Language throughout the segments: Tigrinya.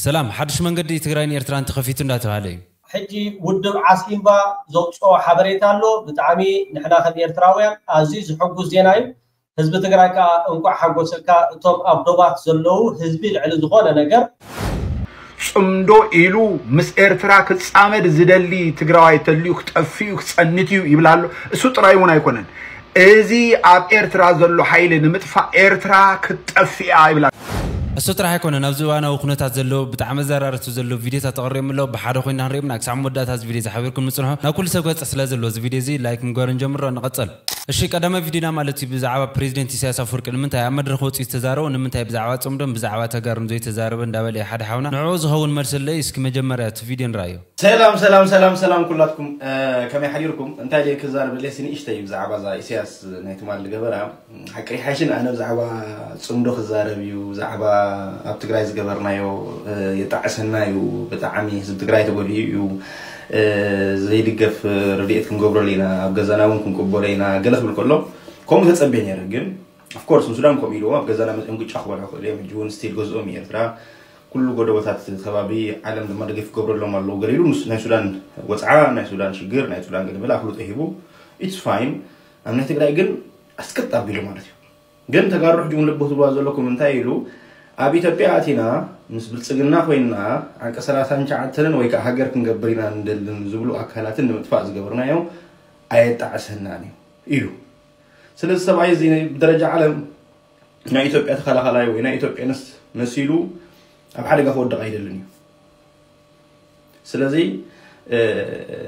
ሰላም ሓዱሽ መንገዲ ትግራይን ኤርትራን ተኸፊቱ እንዳተብሃለ እዩ። ሕጂ ውድብ ዓስኢምባ ዘውጽኦ ሓበሬታ ኣሎ ብጣዕሚ ንሕና ከም ኤርትራውያን ኣዝዩ ዝሕጉስ ዜና እዩ ህዝቢ ትግራይ ከኣ እንቋዕ ሓጎሰካ እቶም ኣብ ዶባት ዘለዉ ህዝቢ ልዕሊ ዝኾነ ነገር ጽምዶ ኢሉ ምስ ኤርትራ ክጻመድ ዝደሊ ትግራዋይ ተልዩ ክጠፍእዩ ክጸንትዩ ይብል ኣሎ እሱ ጥራይ ውን ኣይኮነን እዚ ኣብ ኤርትራ ዘሎ ሓይሊ ንምጥፋእ ኤርትራ ክትጠፍእ እያ ይብላ። እሱ ጥራሕ ኣይኮነን ኣብዚ እዋናዊ ኩነታት ዘለዉ ብጣዕሚ ኣዘራረብቲ ዘለዉ ቪድዮታት ተቅርዮም ኣለዉ ብሓደ ኮይና ክንርዮም ኢና ክሳዕ መወዳእታ እዚ ቪድዮ እዚ ሓቢርኩም ንጽንሑ ናብ ኩሉ ሰብ ክበጽሕ ስለ ዘለዎ እዚ ቪድዮ እዚ ላይክ ምግባር ንጀምሮ ንቀጽል እሺ ቀዳማይ ቪድዮና ማለት እዩ ብዛዕባ ፕረዚደንት ኢሳያስ ኣፍወርቂ ንምንታይ ኣብ መድረኽ ወጺኡ ዝተዛረቦ ንምንታይ ብዛዕባ ጽምዶን ብዛዕባ ተጋሩን ዘይተዛረበ እንዳበለ እዩ ሓደ ሓውና ንዕኡ ዝኸውን መልሲ ኣሎ እዩ እስኪ መጀመርያ እቲ ቪድዮ ንርኣዮ። ሰላም ሰላም ሰላም ሰላም ኩላትኩም ከመይ ሓዲርኩም እንታይ ደይ ክዛረብ ደልየ ስንእሽተይ ብዛዕባ እዛ ኢሳያስ ናይ ትማል ዝገበራ ሓቂ ይሓይሽን ኣነ ብዛዕባ ፅምዶ ክዛረብ እዩ ብዛዕባ ኣብ ትግራይ ዝገበርናዮ የጣዕሰና እዩ ብጣዕሚ ህዝቢ ትግራይ ተጎዲኡ እዩ ዘይድገፍ ረድኤት ክንገብረሉ ኢና ኣብ ገዛና እውን ክንቅበሎ ኢና ገለ ክብል ከሎ ከምኡ ተፀቤ ነይረ ግን Of course ንሱዳን ከምኡ ኢልዎ ኣብ ገዛና መፅኦም ግጫ ክበልዑ ክእሉ እዮም ሕጂ እውን ስቲል ገዝኦም እዩ ኤርትራ ኩሉ ጎደቦታት ከባቢ ዓለም ድማ ደገፍ ክገብረሎም ኣለዎ ገለ ኢሉ ምስ ናይ ሱዳን ወፅዓ ናይ ሱዳን ሽግር ናይ ሱዳን ገለመለ ኣፍልጦ ሂቡ ኢትስ ፋይን ኣብ ናይ ትግራይ ግን ኣስቅጥ ኣቢሉ ማለት እዩ ግን ተጋሩ ሕጂ እውን ልቦ ትብልዋ ዘለኩም እንታይ ኢሉ ኣብ ኢትዮጵያ ኣቲና ምስ ብልፅግና ኮይና ዓንቀ ሰላሳን ሸዓተንን ወይ ከዓ ሃገር ክንገብር ኢና ንደልን ዝብሉ ኣካላትን ንምጥፋእ ዝገበርናዮ ኣየጣዕሰናን እዩ ኢሉ ስለ እዚ ሰብኣይ እዚ ብደረጃ ዓለም ናይ ኢትዮጵያ ተኸላኸላይ ወይ ናይ ኢትዮጵያ ንስ መሲሉ ኣብ ሓደጋ ክወድቕ ኣይደልን እዩ ስለዚ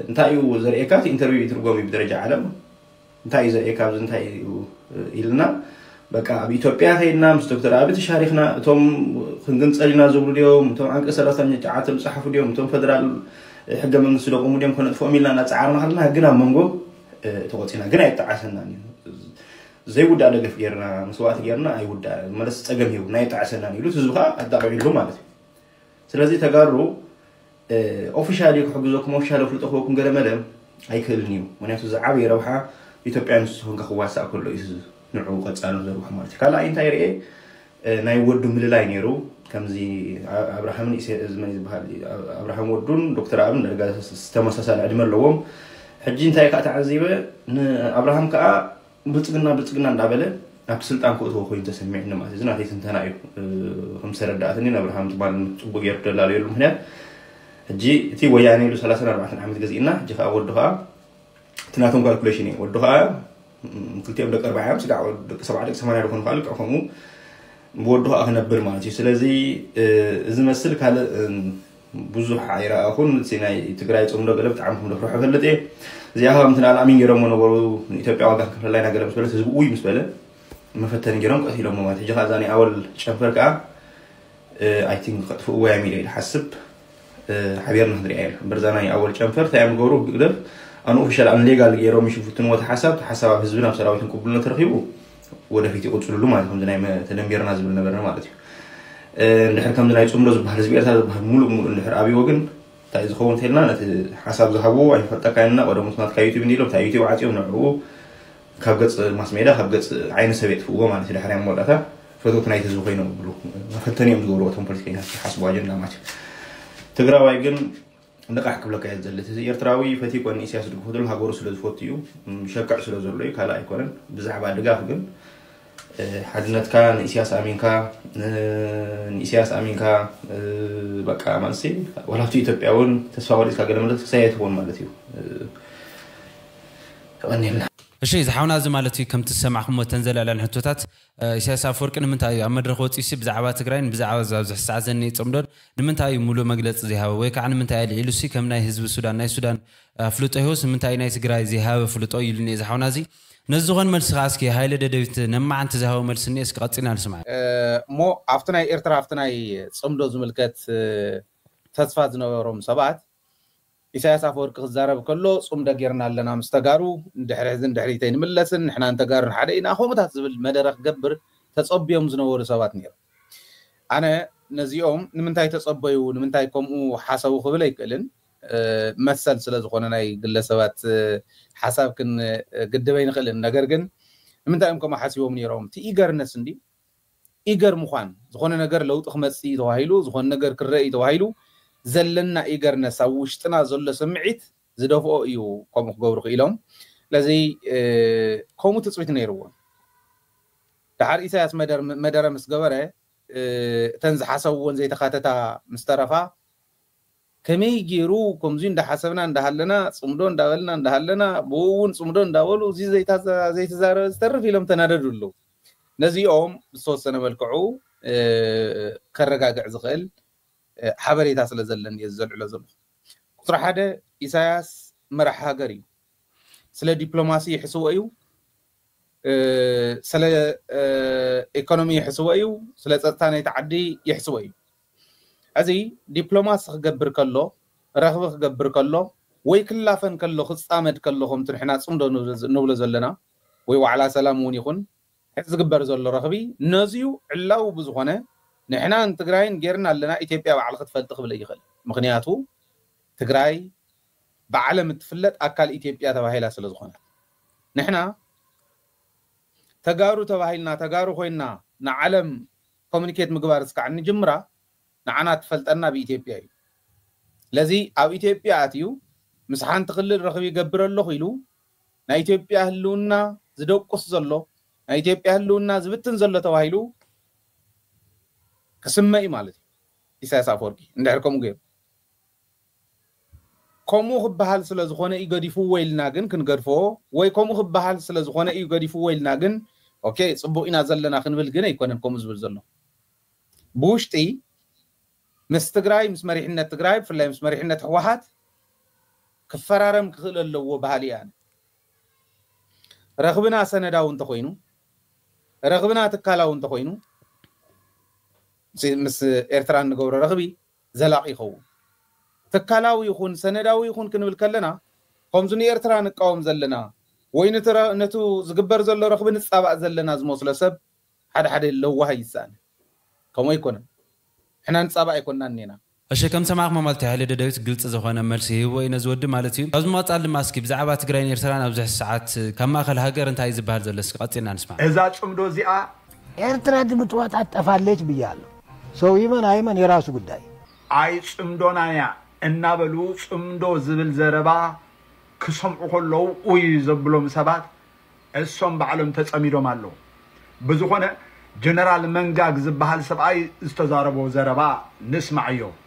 እንታይ እዩ ዘርእየካ እቲ ኢንተርቪው ይትርጎም እዩ ብደረጃ ዓለም እንታይ እዩ ዘርእየካ ኣብዚ እንታይ እዩ ኢልና በቃ ኣብ ኢትዮጵያ ከይድና ምስ ዶክተር ኣቢ ተሻሪኽና እቶም ክንግንፀል ኢና ዝብሉ ድዮም እቶም ዓንቀ ሰላሳኛ ጨዓተ ዝፀሓፉ ድዮም እቶም ፈደራል ሕገ መንግስቲ ደቆሙ ድዮም ከነጥፍኦም ኢልና እናፀዓርና ከለና ግን ኣብ መንጎ ተቆፂና ግን ኣይጣዓሰናን እዩ ዘይውዳእ ደገፍ ጌርና መስዋእቲ ጌርና ኣይውዳእ መለስ ፀገም ሂቡና ኣይጣዓሰናን ኢሉ ህዝቢ ከዓ ኣጣቂዕሉ ማለት እዩ ስለዚ ተጋሩ ኦፊሻሊ ክሕግዘኩም ኦፊሻሊ ክፍልጦ ክበኩም ገለ መለ ኣይክእልን እዩ ምክንያቱ እዚ ዓብዪ ረብሓ ኢትዮጵያ ንሱ ኮንካ ክዋሳእ ከሎ እዩ ንዕኡ ቀፃሊ ዘርብሑ ማለት እዩ ካልኣይ እንታይ ርኤ ናይ ወዱ ምልላይ ነይሩ ከምዚ ኣብርሃምን ኢሰ- እዚ መን ዝበሃል ኣብርሃም ወዱን ዶክተር ኣብን ዳርጋ ተመሳሳሊ ዕድመ ኣለዎም ሕጂ እንታይ ከኣ ተዓዚበ ንኣብርሃም ከኣ ብልጽግና ብልጽግና እንዳበለ ኣብቲ ስልጣን ክእትዎ ኮይኑ ተሰሚዕኒ ማለት እዩ እዚ ናተይ ትንተና እዩ እ፣ ከም ዝተረዳእትኒ ንኣብርሃም ትማል ጽቡቅ ገይሩ ደላለየሉ ምክንያት ሕጂ እቲ ወያኔ ኢሉ ሰላሳን ኣርባዕተን ዓመት ገዚእና ሕጂ ከኣ ወዱ ከኣ እቲ ናቶም ካልኩሌሽን እዩ ወዱ ከኣ ክልቲኦም ደቂ ኣርባዓ እዮም ስጋዕ ደቂ ሰብዓ ደቂ ሰማንያ ዝኾኑ ከዓ ልክዕ ከምኡ ብወዱ ከዓ ክነብር ማለት እዩ ስለዚ እዚ መስል ካልእ ብዙሕ ኣይረኣኹን እቲ ናይ ትግራይ ፅምዶ ገለ ብጣዕሚ ክምደፍርሖ ፈልጥ እየ እዚኣ ከዓ ምትን ኣል ኣሚን ገይሮሞ ነበሩ ንኢትዮጵያ ዋጋ ክንከፍለላ ኢና ገለ ምስ በለት ህዝቢ ውይ ምስ በለ መፈተኒ ገይሮም ቀትሎሞ ማለት ሕጂ ከዓ እዛ ናይ ኣወል ጨንፈር ከዓ ኣይ ቲንክ ከጥፍእዎ እዮም ኢለ ይሓስብ ሓቢርና ክንሪኣ ኢና እምበር እዛ ናይ ኣወል ጨንፈር እንታይ እዮም ዝገብሩ ብግደፍ ኣንኦፊሻል ኣንሌጋል ገይሮም ይሽፍትንዎ እቲ ሓሳብ እቲ ሓሳብ ኣብ ህዝብን ኣብ ሰራዊትን ቅቡልነት ረኺቡ ወደፊት ይቕፅልሉ ማለት ከምዚ ናይ ተደንቢርና ዝብል ነበርና ማለት እዩ እንድሕር ከምዚ ናይ ፅምዶ ዝበሃል ህዝቢ ኤርትራ ዝበሃል ሙሉእ ሙሉእ እንድሕር ኣብዎ ግን እንታይ እዩ ዝኸውን እንተልና ነቲ ሓሳብ ዝሃብዎ ኣይንፈልጠካ ኢና ቀደሙ ናትካ ዩቲብ እንዲ ኢሎም እንታይ ዩቲብ ዓፅዮም ንዕኡ ካብ ገጽ ማስሜዳ ካብ ገጽ ዓይኒ ሰብ የጥፍእዎ ማለት እዩ ድሕሪ ኣብ መወዳእታ ፈተውቲ ናይቲ ህዝቢ ኮይኖም ይብሉ መፈተኒ እዮም ዝገብርዎ እቶም ፖለቲከኛታት ዝሓስቡ ኣጀንዳ ማለት እዩ ትግራዋይ ግን ንቓሕ ክብለካ እየ ዝደሊ እዚ ኤርትራዊ ፈትዩ ኮነ ኢሳያስ ዝድግፎ ዘሎ ሃገሩ ስለ ዝፈቱ እዩ ሸክዕ ስለ ዘሎ እዩ ካልእ ኣይኮነን ብዛዕባ ድጋፍ ግን ሓድነትካ ንኢስያስ ኣሚንካ ንኢስያስ ኣሚንካ በቃ ማለት ዋላ ኣብቲ ኢትዮጵያ እውን ተስፋ ቆሪፅካ ገለ ማለት ክሳይ ኣይትኸውን ማለት እዩ የቐንየልና። እሺ ዝሓውና እዚ ማለት እዩ ከምቲ ዝሰማዕኩሞ እተን ዘለዕለን ሕቶታት ኢሳያስ ኣፍወርቂ ንምንታይ እዩ ኣብ መድረኽ ወጺኡሲ ብዛዕባ ትግራይን ብዛዕባ እዚ ኣብዚ ሕዚ ሰዓት ዘኒኤ ጽምዶን ንምንታይ እዩ ሙሉእ መግለጺ ዘይሃበ ወይ ካዓ ንምንታይ ኣልዒሉሲ ከም ናይ ህዝቢ ሱዳን ናይ ሱዳን ኣፍልጦ ሂቡስ ንምንታይ እዩ ናይ ትግራይ ዘይሃበ ኣፍልጦ ኢሉኒ እዚ ሓውና እዚ ነዚ ዝኾን መልሲ ከኣ እስኪ ሃይለ ደደቢት ነማዓንቲ ዝሃቦ መልሲ እኒኤ እስኪ ቀጺልና ንስምዓ። እሞ ኣብቲ ናይ ኤርትራ ኣብቲ ናይ ጽምዶ ዝምልከት ተስፋ ዝነበሮም ሰባት ኢሳያስ ኣፈወርቂ ክዛረብ ከሎ ጽምዶ ጌርና ኣለና ምስ ተጋሩ ንድሕሪ ሕዝን ድሕሪት ኣይንምለስን ንሕናን ተጋሩን ሓደ ኢና ከምኡታት ዝብል መደረ ክገብር ተጸብዮም ዝነበሩ ሰባት ኔሮም ኣነ ነዚኦም ንምንታይ ተጸበዩ ንምንታይ ከምኡ ሓሰቡ ክብል ኣይክእልን መሰል ስለ ዝኾነ ናይ ግለሰባት ሓሳብ ክንግድብ ኣይንኽእልን ነገር ግን ንምንታይ እዮም ከምኡ ሓሲቦም ኔሮም እቲ ኢገርነስ እንድዩ ኢገር ምዃን ዝኾነ ነገር ለውጢ ክመጽእ እዩ ተባሂሉ ዝኾነ ነገር ክረኣ እዩ ተባሂሉ ዘለና ኢገርነስ ኣብ ውሽጥና ዘሎ ስምዒት ዝደፍኦ እዩ ከምኡ ክገብሩ ክኢሎም ስለዚ ከምኡ ትጽቢት ነይርዎም ድሓር ኢሳያስ መደረ ምስ ገበረ እተን ዝሓሰብዎን ዘይተኻተታ ምስ ተረፋ ከመይ ጌሩ ከምዙይ እንዳሓሰብና እንዳሃለና ፅምዶ እንዳበልና እንዳሃለና ብኡ እውን ፅምዶ እንዳበሉ እዙይ ዘይተዛረበ ዝተርፍ ኢሎም ተናደዱ ኣለው። ነዚኦም ብዝተወሰነ መልክዑ ከረጋግዕ ዝኽእል ሓበሬታ ስለ ዘለኒ እየ ዘልዕሎ ዘለኹ። ቁፅሪ ሓደ ኢሳያስ መራሒ ሃገር እዩ። ስለ ዲፕሎማሲ ይሕስቦ እዩ፣ ስለ ኢኮኖሚ ይሕስቦ እዩ፣ ስለ ፀጥታ ናይቲ ዓዲ ይሕስቦ እዩ። ሕዚ ዲፕሎማሲ ክገብር ከሎ፣ ረኽቢ ክገብር ከሎ ወይ ክላፈን ከሎ ክጻመድ ከሎ ከምቲ ንሕና ጽምዶ ንብሎ ዘለና ወይ ዋዕላ ሰላም እውን ይኹን ሕዚ ዝግበር ዘሎ ረኽቢ ነዚዩ ዕላዊ ብዝኾነ ንሕናን ትግራይን ጌርና ኣለና ኢትዮጵያ ባዕላ ክትፈልጥ ክብል ኣይኽእል ምኽንያቱ ትግራይ ብዓለም እትፍለጥ ኣካል ኢትዮጵያ ተባሂላ ስለ ዝኾነት ንሕና ተጋሩ ተባሂልና ተጋሩ ኮይና ንዓለም ኮሙኒኬት ምግባር እስካዕ እንጅምራ ንዓና እትፈልጠና ኣብ ኢትዮጵያ እዩ። ስለዚ ኣብ ኢትዮጵያ ኣትዩ ምስ ሓንቲ ክልል ርኽቢ ይገብር ኣለኹ ኢሉ ናይ ኢትዮጵያ ህልውና ዝደቁስ ዘሎ፣ ናይ ኢትዮጵያ ህልውና ዝብትን ዘሎ ተባሂሉ ክስመ እዩ ማለት እዩ። ኢሳያስ ኣፈወርቂ እንድሕር ከምኡ ገይሩ። ከምኡ ክበሃል ስለ ዝኾነ እዩ ገዲፍዎ ኢልና ግን ክንገድፎ ወይ ከምኡ ክበሃል ስለ ዝኾነ እዩ ገዲፍዎ ኢልና ግን ኦኬ ጽቡቕ ኢና ዘለና ክንብል ግን ኣይኮነን ከምኡ ዝብል ዘሎ ብውሽጢ ምስ ትግራይ ምስ መሪሕነት ትግራይ ብፍላይ ምስ መሪሕነት ህወሓት ክፈራረም ክኽእል ኣለዎ በሃሊ እየ ኣነ ረኽብና ሰነዳዊ እንተኾይኑ ረኽብና ትካላዊ እንተኾይኑ ምስ ኤርትራ እንገብሮ ረኽቢ ዘላቂ ይኸውን። ትካላዊ ይኹን ሰነዳዊ ይኹን ክንብል ከለና ከምዚ ንኤርትራ ንቃወም ዘለና ወይ ነቲ ዝግበር ዘሎ ረኽቢ ንጻባእ ዘለና ዝመስሎ ሰብ ሓደ ሓደ ለዋህ ይሳኣነ። ከምኡ ኣይኮነን። ንሕና ንጻባእ ኣይኮናን እኔና። እሺ ከም ሰማዕክሞ ማለት እዩ ሃይለ ደደቢት ግልጺ ዝኾነ መልሲ ሂብዎ እዩ ነዚ ወዲ ማለት እዩ። ካብዚ ብምቅጻል ድማ እስኪ ብዛዕባ ትግራይን ኤርትራን ኣብዚ ሕዚ ሰዓት ካብ ማእከል ሃገር እንታይ እዩ ዝብሃል ዘሎ እስኪ ቀጺልና ንስማዕ። እዛ ጽምዶ እዚኣ ኤርትራ ድምጽዋጣት ጠፋለች ብያለሁ ሰው ይመን ኣይመን የራሱ ጉዳይ። ኣይ ጽምዶና እያ እናበሉ ጽምዶ ዝብል ዘረባ ክሰምዑ ከለዉ ኡይ ዘብሎም ሰባት እሶም ባዕሎም ተጸሚዶም ኣለዉ ብዝኾነ ጀነራል መንጋግ ዝብሃል ሰብኣይ ዝተዛረቦ ዘረባ ንስማዓዮ።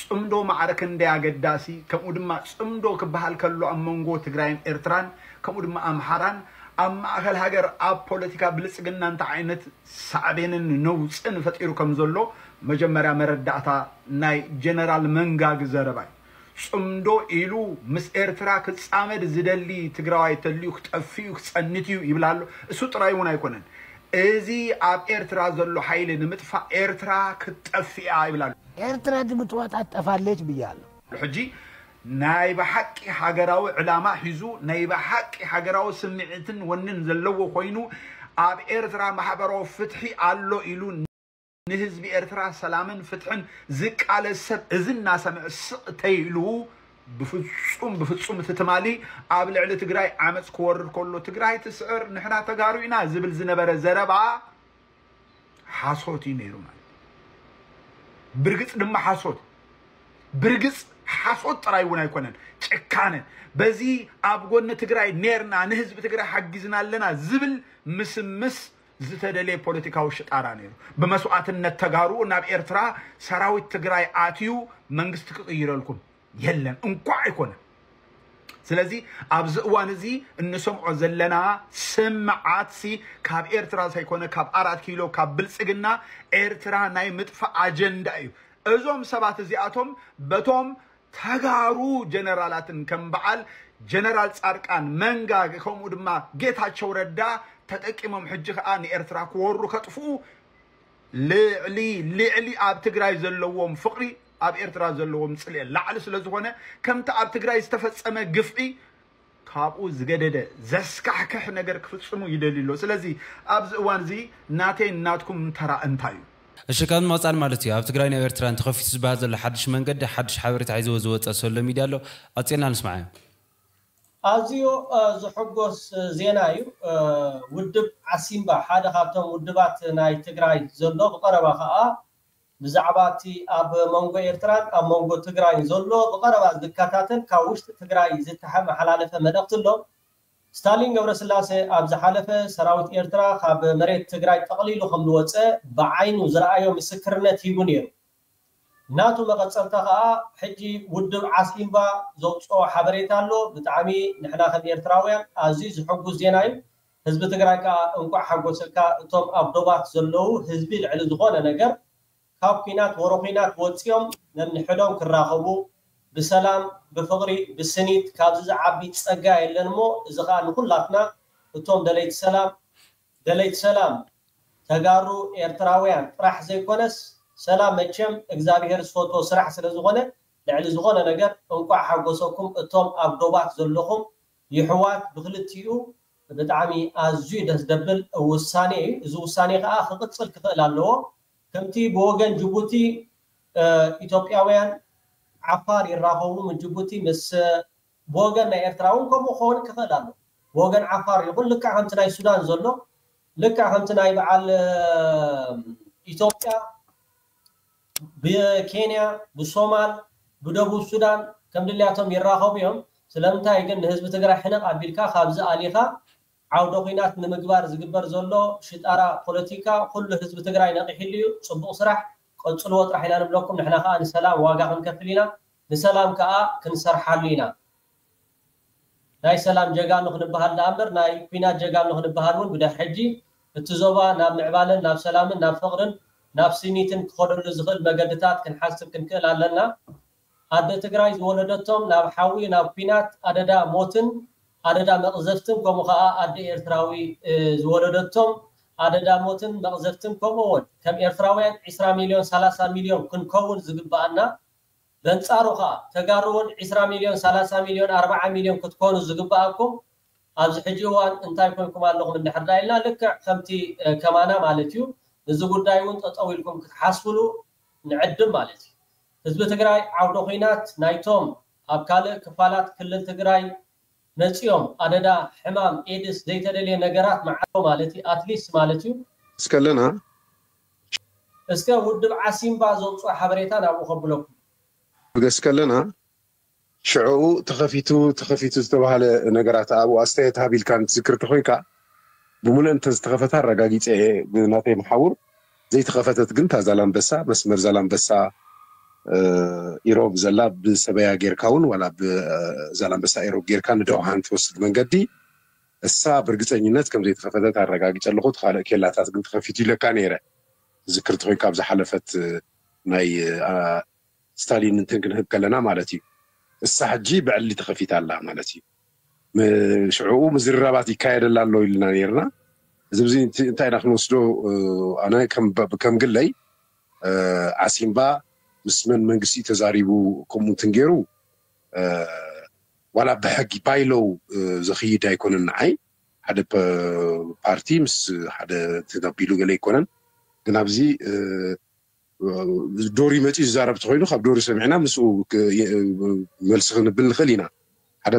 ጽምዶ ማዕረ ክንደይ ኣገዳሲ ከምኡ ድማ ጽምዶ ክበሃል ከሎ ኣብ መንጎ ትግራይን ኤርትራን ከምኡ ድማ ኣምሓራን ኣብ ማእከል ሃገር ኣብ ፖለቲካ ብልጽግና እንታይ ዓይነት ሳዕቤንን ነውጽን ፈጢሩ ከም ዘሎ መጀመርያ መረዳእታ ናይ ጀነራል መንጋግ ዘረባ እዩ። ጽምዶ ኢሉ ምስ ኤርትራ ክጻመድ ዝደሊ ትግራዋይ ተልዩ ክጠፍእዩ ክጸንትዩ ይብል ኣሎ እሱ ጥራይ እውን ኣይኮነን እዚ ኣብ ኤርትራ ዘሎ ሓይሊ ንምጥፋእ ኤርትራ ክትጠፍእ እያ ይብል ኣሎ። ኤርትራ ድምጥዋጣ ትጠፋለች ብያለሁ። ሕጂ ናይ ብሓቂ ሃገራዊ ዕላማ ሒዙ ናይ ብሓቂ ሃገራዊ ስምዒትን ወንን ዘለዎ ኮይኑ ኣብ ኤርትራ ማሕበራዊ ፍትሒ ኣሎ ኢሉ፣ ንህዝቢ ኤርትራ ሰላምን ፍትሕን ዝቃለስ ሰብ እዚ እናሰምዐ ስቕ ተይሉ ብፍጹም ብፍጹም እቲ ትማሊ ኣብ ልዕሊ ትግራይ ዓመፅ ክወርድ ከሎ ትግራይ ትስዕር ንሕና ተጋሩ ኢና ዝብል ዝነበረ ዘረባ ሓሶት እዩ ነይሩ ማለት ብርግፅ ድማ ሓሶት ብርግፅ ሓሶት ጥራይ እውን ኣይኮነን ጭካነ በዚ ኣብ ጎኒ ትግራይ ኔርና ንህዝቢ ትግራይ ሓጊዝና ኣለና ዝብል ምስምስ ዝተደልየ ፖለቲካዊ ሽጣራ ነይሩ። ብመስዋእትነት ተጋሩ ናብ ኤርትራ ሰራዊት ትግራይ ኣትዩ መንግስቲ ክቕይረልኩም የለን እንኳዕ ኣይኮነ። ስለዚ ኣብዚ እዋን እዚ እንሰምዖ ዘለና ስምዓትሲ ካብ ኤርትራ ዘይኮነ ካብ ኣራት ኪሎ ካብ ብልጽግና ኤርትራ ናይ ምጥፋእ ኣጀንዳ እዩ። እዞም ሰባት እዚኣቶም በቶም ተጋሩ ጀነራላትን ከም በዓል ጀነራል ፃድቃን መንጋ ከምኡ ድማ ጌታቸው ረዳ ተጠቂሞም ሕጂ ከዓ ንኤርትራ ክወሩ ከጥፍኡ ልዕሊ ልዕሊ ኣብ ትግራይ ዘለዎም ፍቅሪ ኣብ ኤርትራ ዘለዎም ፅልኤ ላዕሊ ስለዝኾነ ከምቲ ኣብ ትግራይ ዝተፈፀመ ግፍዒ ካብኡ ዝገደደ ዘስካሕክሕ ነገር ክፍጽሙ ይደልዩ ኣለዉ። ስለዚ ኣብዚ እዋን እዚ ናተይን ናትኩም ተራ እንታይ እዩ? እሺ ካብ ንምቅጻል ማለት እዩ ኣብ ትግራይን ኣብ ኤርትራን ተኸፊቱ ዝበሃል ዘሎ ሓድሽ መንገዲ ሓድሽ ሓበሬታ ሒዝዎ ዝወጸ ሶሎ ሚድያ ኣሎ ቀጺልና ንስምዓዮ። ኣዝዩ ዝሕጎስ ዜና እዩ ውድብ ዓሲምባ ሓደ ካብቶም ውድባት ናይ ትግራይ ዘሎ ብቀረባ ከኣ ብዛዕባ እቲ ኣብ መንጎ ኤርትራን ኣብ መንጎ ትግራይን ዘሎ ብቐረባ ዝከታተል ካብ ውሽጢ ትግራይ ዝተሐመሓላለፈ መልእኽቲ ኣሎ። ስታሊን ገብረስላሰ ኣብ ዝሓለፈ ሰራዊት ኤርትራ ካብ መሬት ትግራይ ጠቕሊሉ ከም ዝወጸ ብዓይኑ ዝረኣዮ ምስክርነት ሂቡ ነይሩ። ናቱ መቐጸልታ ከኣ ሕጂ ውድብ ዓሲምባ ዘውጽኦ ሓበሬታ ኣሎ። ብጣዕሚ ንሕና ከም ኤርትራውያን ኣዝዩ ዝሕጉስ ዜና እዩ። ህዝቢ ትግራይ ከኣ እንኳዕ ሓጎሰካ እቶም ኣብ ዶባት ዘለዉ ህዝቢ ልዕሊ ዝኾነ ነገር ካብ ኩናት ወረ ኩናት ወጺኦም ነንሕዶም ክራኸቡ ብሰላም ብፍቕሪ ብስኒት ካብዚ ዝዓቢ ጸጋ የለን እሞ እዚ ከኣ ንኹላትና እቶም ደለይቲ ሰላም ደለይቲ ሰላም ተጋሩ ኤርትራውያን ጥራሕ ዘይኮነስ ሰላም መቸም እግዛብሄር ዝፈትዎ ስራሕ ስለ ዝኾነ ልዕሊ ዝኾነ ነገር እንኳዕ ሓጎሰኩም እቶም ኣብ ዶባት ዘለኹም ይሕዋት ብክልቲኡ ብጣዕሚ ኣዝዩ ደስ ደብል ውሳኔ እዩ እዚ ውሳኔ ከኣ ክቅጽል ክክእል ኣለዎ ከምቲ ብወገን ጅቡቲ ኢትዮጵያውያን ዓፋር ይራከቡ ምስ ጅቡቲ ምስ ብወገን ናይ ኤርትራ ውን ከምኡ ክከውን ክክእል ኣለዎ ብወገን ዓፋር ይኩን ልክዕ ከምቲ ናይ ሱዳን ዘሎ ልክዕ ከምቲ ናይ በዓል ኢትዮጵያ ብኬንያ፣ ብሶማል፣ ብደቡብ ሱዳን ከም ድልያቶም ይራኸቡ እዮም። ስለምንታይ ግን ንህዝቢ ትግራይ ሕንቕ ኣቢልካ ካብዚ ኣሊኻ ዓውደ ኹናት ንምግባር ዝግበር ዘሎ ሽጣራ ፖለቲካ ኹሉ ህዝቢ ትግራይ ነቒሕሉ እዩ። ፅቡቕ ስራሕ ቀፅልዎ ጥራሕ ኢና ንብለኩም ንሕና ኻዓ ንሰላም ዋጋ ኽንከፍል ኢና። ንሰላም ከኣ ክንሰርሓሉ ኢና። ናይ ሰላም ጀጋኑ ክንበሃል ደኣምበር ናይ ኩናት ጀጋኑ ክንበሃል እውን ብድሕር ሕጂ እቲ ዞባ ናብ ምዕባለን ናብ ሰላምን ናብ ፍቕርን ናብ ስኒትን ክኸደሉ ዝኽእል መገድታት ክንሓስብ ክንክእል ኣለና። ኣደ ትግራይ ዝወለደቶም ናብ ሓዊ ናብ ኩናት ኣደዳ ሞትን ኣደዳ መቕዘፍትን ከምኡ ከኣ ኣደ ኤርትራዊ ዝወለደቶም ኣደዳ ሞትን መቕዘፍትን ከምኡ እውን ከም ኤርትራውያን ዕስራ ሚልዮን ሰላሳ ሚልዮን ክንከውን ዝግበኣና በንጻሩ ከኣ ተጋሩ ውን ዕስራ ሚልዮን ሰላሳ ሚልዮን ኣርብዓ ሚልዮን ክትኮኑ ዝግበኣኩም ኣብዚ ሕጂ እዋን እንታይ ኮንኩም ኣለኹም እንድሕር ደኣ ኢልና ልክዕ ከምቲ ከማና ማለት እዩ ንዚ ጉዳይ ውን ጠጠው ኢልኩም ክትሓስብሉ ንዕድም ማለት እዩ። ህዝቢ ትግራይ ዓውደ ኹናት ናይቶም ኣብ ካልእ ክፋላት ክልል ትግራይ መጺኦም ኣደዳ ሕማም ኤድስ ዘይተደልየ ነገራት መዓዶ ማለት ኣትሊስት ማለት እዩ። እስከለና ሸር። እስከ ውድብ ዓሲምባ ዘውጽኦ ሓበሬታ ናብኡ ከብለኩም። እስከለና ሽዕኡ ተኸፊቱ ተኸፊቱ ዝተባህለ ነገራት ኣብኡ ኣስተያየት ሃብ ኢልካ ንትዝክር ተኾይንካ ብሙሉኤን ተዝተኸፈተ ኣረጋጊጸ እየ ብናተይ መሓውር። ዘይተኸፈተት ግን እታ ዛላምበሳ መስመር ዛላምበሳ ኢሮብ ዘላ ብሰበያ ጌርካ እውን ዋላ ብዛላምበሳ ኢሮብ ጌርካ ንደውሃን ትወስድ መንገዲ እሳ ብርግፀኝነት ከም ዘይተኸፈተት ኣረጋጊፀ ኣለኹ እቲ ካልእ ኬላታት ግን ተኸፊቱ ኢለካ ነይረ ትዝክር ተኾይንካ ኣብ ዝሓለፈት ናይ ስታሊን እንትን ክንህብ ከለና ማለት እዩ እሳ ሕጂ ብዕሊ ተኸፊታ ኣላ ማለት እዩ ሽዕኡ ምዝርራባት ይካየደላ ኣሎ ኢልና ነርና እዚ ብዚ እንታይ ኢና ክንወስዶ ኣነ ከም ግለይ ዓሲምባ ምስ መን መንግስቲ ተዛሪቡ ከምኡ እንትን ገይሩ ዋላ ብሕጊ ባይሎው ዘኽይድ ኣይኮነን ንዓይ ሓደ ፓርቲ ምስ ሓደ ተጋቢሉ ገለ ኣይኮነን ግን ኣብዚ ዶሪ መጺኡ ዝዛረብ ተኾይኑ ካብ ዶሪ ሰሚዕና ምስኡ መልሲ ክንብል ንኽእል ኢና ሓደ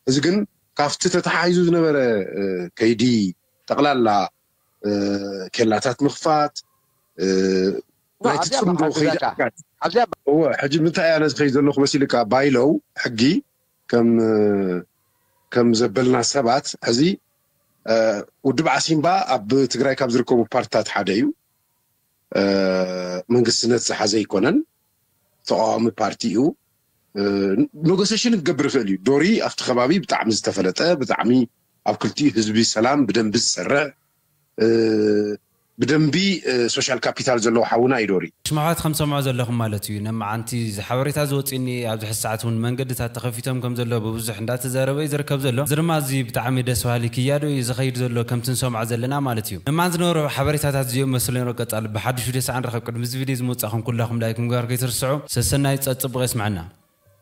እዚ ግን ካብቲ ተተሓሒዙ ዝነበረ ከይዲ ጠቕላላ ኬላታት ምኽፋት ናይቲ ጽምዶ ከይዲ እወ ሕጂ ምንታይ ኣነ ዝኸይድ ዘለኹ መሲልካ ባይለው ሕጊ ከም ከም ዘበልና ሰባት ሕዚ ውድብ ዓሲምባ ኣብ ትግራይ ካብ ዝርከቡ ፓርትታት ሓደ እዩ መንግስትነት ዝሓዘ ኣይኮነን ተቃዋሚ ፓርቲ እዩ ኖጎሴሽን ክገብር ይኽእል እዩ ዶሪ ኣብቲ ከባቢ ብጣዕሚ ዝተፈለጠ ብጣዕሚ ኣብ ክልቲኡ ህዝቢ ሰላም ብደንቢ ዝሰርዕ ብደንቢ ሶሻል ካፒታል ዘለዎ ሓውና እዩ ዶሪ። ሽማውት ከም ትሰምዑ ዘለኹም ማለት እዩ ን መዓንቲ እዚ ሓበሬታ ዝወጽእኒ ኣብዚ ሕዚ ሰዓት ውን መንገድታት ተኸፊቶም ከም ዘለዉ ብብዙሕ እንዳተዘረበ እዩ ዝርከብ ዘሎ እዚ ድማ ኣዝዩ ብጣዕሚ ደስ በሃሊ ክያዶ እዩ ዝኸይድ ዘሎ ከምቲ ንሰምዖ ዘለና ማለት እዩ። እማን ዝነበሩ ሓበሬታታት እዚኦም መሰሎም ይረገጻሉ። ብሓዱሽ ቪድዮ ሳዕ ንራኸብ። ቅድሚ እዚ ቪድዮ እዚ ምውጻእኩም ኩላኹም ላይክ ምግባር ከይትርስዑ። ሰሰናዩ ጸጽብቕ የስምዐና።